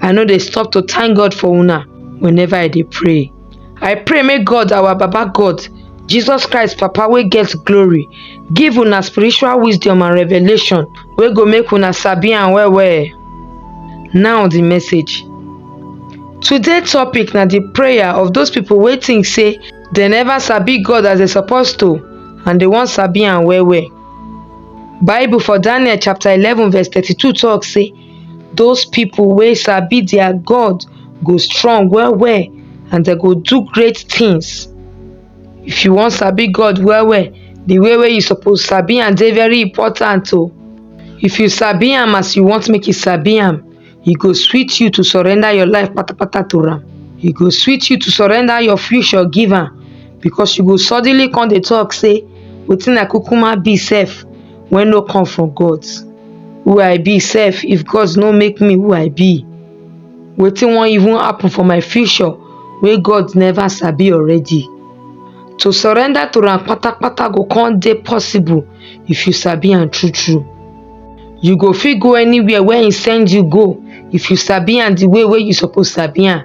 i no dey stop to thank god for una whenever i dey pray i pray make god our baba god jesus christ papa wey get glory give una spiritual wisdom and revelation wey go make una sabi am well well now the message today topic na the prayer of those people wey think say they never sabi god as they suppose to and they wan sabi am well well bible for daniel chapter eleven verse thirty-two talk say Those people wey sabi their God go strong well well and dem go do great things. If you wan sabi God well well, the way wey you suppose sabi am dey very important o. If you sabi am as you want make you sabi am, e go sweet you to surrender your life patapata to am. E go sweet you to surrender your future give am because you go suddenly come dey talk say wetin I kukuma be sef wey no come from God who I be sef if God no make me who I be wetin wan even happen for my future wey God never sabi already to surrender to am patapata go come dey possible if you sabi am true true you go fit go anywhere wey he send you go if you sabi am the way wey you suppose sabi am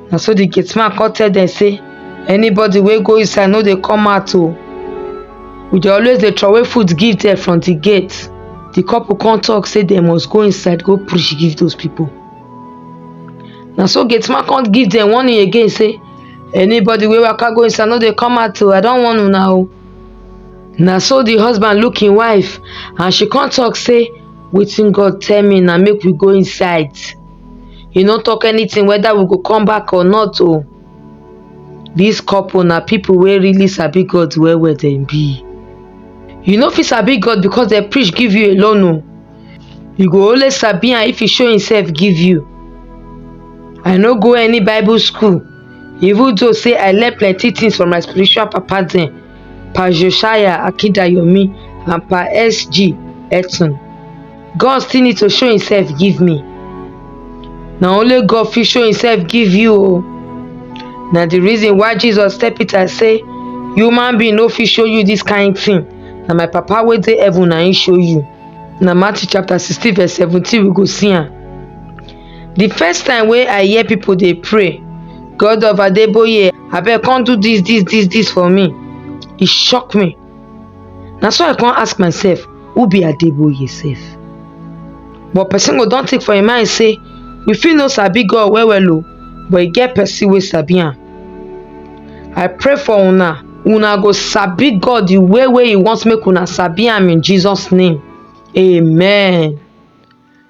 na so the gate man come tell dem say anybody wey go inside no dey come out o we dey always dey throway food give dem from the gate the couple come talk say dem must go inside go preach give those people na so gate man come give dem warning again say anybody wey waka go inside no dey come out o i don warn una o na so the husband look im wife and she come talk say wetin god tell me na make we go inside he no talk anything whether we go come back or not o this couple na people wey really sabi God well well dem be you no fit sabi God because dem preach give you alone o you go only sabi am if he show himself give you I no go any bible school even though say I learn plenty things from my spiritual papa dem Pa Josiah Akindayomi and Pa SG Etun god still need to show himself give me na only god fit show himself give you o na the reason why jesus tell peter say human being no fit show you this kind thing na my papa wey dey heaven na him show you na matthew chapter sixteen verse seventeen we go see am the first time wey i hear people dey pray god of adeboye abeg come do this this this this for me e shock me na so i come ask myself who be adeboye sef but person go don think for im mind say we fit no sabi god well well o but e get person wey sabi am i pray for una una go sabi god the way wey e want make una sabi am in jesus name amen